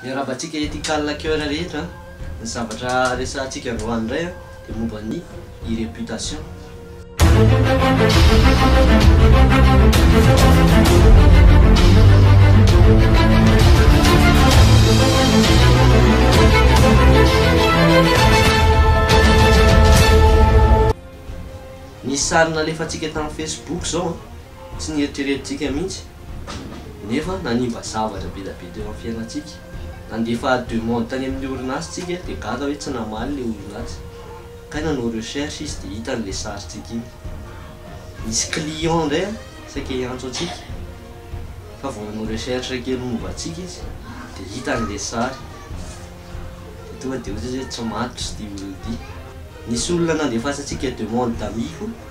Iarahabantsika ethical hacker rehetra ny zavatra resahantsika androany indray a dia momba ny e-reputation. Ny sary nalefantsika tamin'ny facebook izao a. tsy nieritreretintsika mihitsy nefa nanimba zavatra be dia be teo amin'ny fiainantsika. Nandefa demande tany amin'ny orinasa tsika dia gaga hoe tsy namaly ilay orinasa. Kay nanao recherche izy dia hitany ilay sarintsika iny. Nisy client indray saika hiantso antsika fa vao nanao recherche kely momba antsika izy dia hitany ilay sary dia tonga dia ohatra izy hoe tsy matotra ity olona ity. Nisy olona nandefasantsika demande d'ami koa.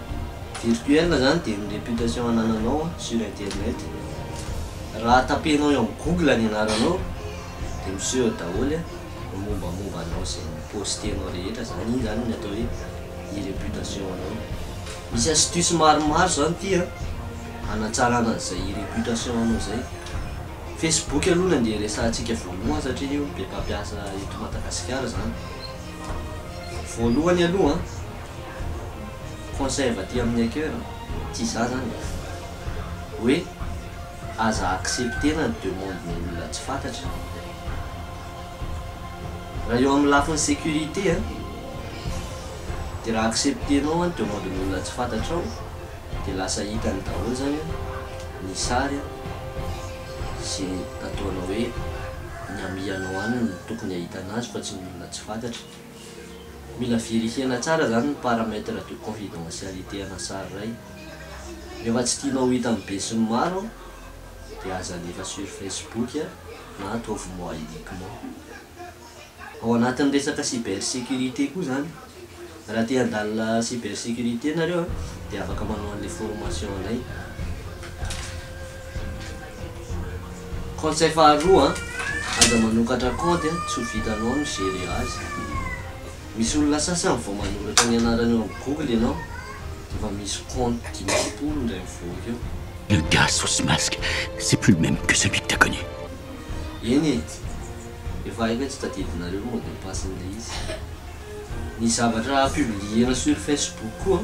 Virtuel zany dia ny réputation anananao sur internet, raha tapenao eo amin'ny google ny anaranao dia miseho daholo ny mombamomba anao izay mi-postenao rehetra zany, iny zany no atao hoe ny réputation anao. Misy astuce maromaro zany ity an, hanatsarana an'izay réputation anao izay. Facebook aloha no andeha resahantsika voalohany satria io no be mpampiasa eto Madagasikara zany, voalohany aloha an. Conseil avy aty amin'ny hacker a, tsy izaho izany e, hoe aza accepter-na ny demande-ny olona tsy fantatra. Raha eo amin'ny lafiny sécurité a, dia raha accepter-nao ny demande-ny olona tsy fantatrao dia lasa hitany daholo izany ny sary sy ny ataonao hoe ny amianao any no tokony hahitana azy fa tsy ny olona tsy fantatra. Mila vérifier-na tsara zany ny paramètre de confidentialité ana sary iray. Rehefa tsy tianao ho hitan'ny be sy ny maro dia aza alefa sur Facebook na ataovy moi uniquement. Ao anatin'ny resaka cyber sécurité koa zany. Raha te handalina cyber sécurité nareo dia afaka manao an'ilay formation anay. Conseil faharoa an, aza manokatra kaonty an, tsy ho vitanao ny gérer azy. Misy olona sasany vao manoratra ny anarany eo amin'ny google ianao dia efa misy kaonty dimampolo indray mivoaka eo. Le gars sous masque c'est plus le même que celui que t'as connu. Eny e, efa haiko hoe tsy tadidinareo ny mot de passe-n'ilay izy. Ny zavatra publier-na sur facebook koa.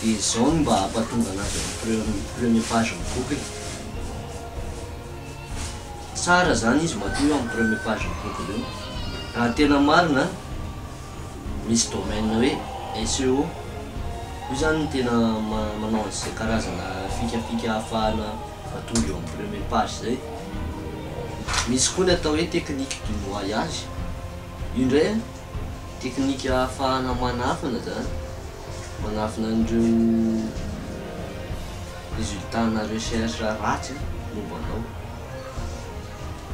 Dia izao no mba hampahatonga an'azy amin'ny pre premier page-n'ny bokiny. Tsara izany izy matoa eo amin'ny premier page-n'ny bokiny eo. Raha tena marina, misy domaine hoe SEO. Io izany no tena manao an'izay karazana fikafika ahafahana mahatonga eo amin'ny premier page izay. Misy koa ny atao hoe technique du noyage. Io indray an! Teknika ahafahana manafina izany, manafina an'ireo résultats-na recherche ratsy momba anao.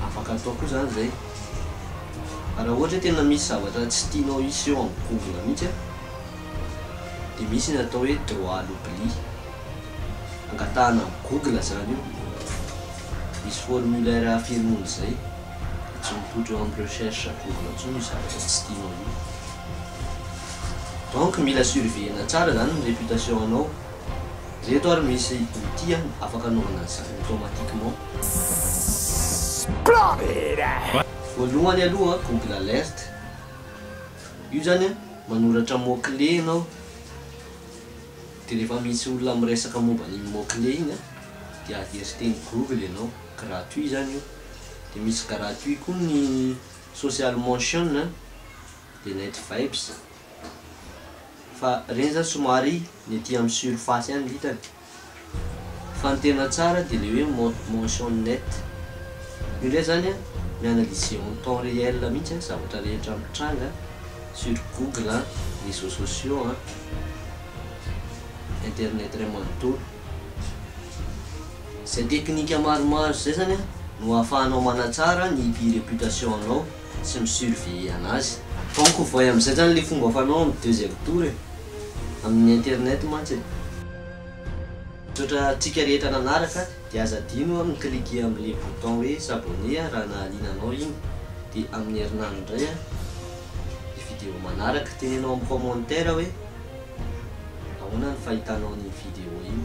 Afaka atao koa izany izay. Fa raha ohatra hoe tena misy zavatra tsy tianao hiseho amin'ny google mihitsy dia misy ny atao hoe droit à l'oubli. Angatahana amin'i google izany io. Misy formulaire firmony izay. dia tsy mivoitra eo amin'ny recherche à google intsony io zavatra tsy tianao io donc mila surveiller-na tsara zany ny réputation anao ireto ary misy outil an afaka anaovana an'izany automatiquement voalohany aloha an google alert io zany an manoratra mot clé ianao dia rehefa misy olona miresaka momba an'iny mot clé iny an dia averteny google ianao gratuit zany io dia misy gratuit koa ny social motion a, dia net vibes, fa ireny zany somary ny aty amin'ny surface ihany ny hitany, fa ny tena tsara dia le hoe mode motion net, io ndray zany a mi-analyser en temps réel mihintsy a zavatra rehetra mitranga sur google a, réseaux sociaux a, internet iray manontolo. Izay teknika maromaro izay zany no ahafahanao manatsara ny pi reputation anao sy mi surveiller anazy. Banco voay amin'izay zany le fomba fanao amin'ny deuxième tour e! Amin'ny internet mantsy e! Misaotra antsika rehetra nanaraka dia aza adino a mi cliquer amin'le bouton hoe s'abonner a raha nahaliana anao iny dia amin'ny herinandro indray a ny video manaraka, teneno amin'ny commentaire hoe ahoana ny fahitanao an'iny video iny.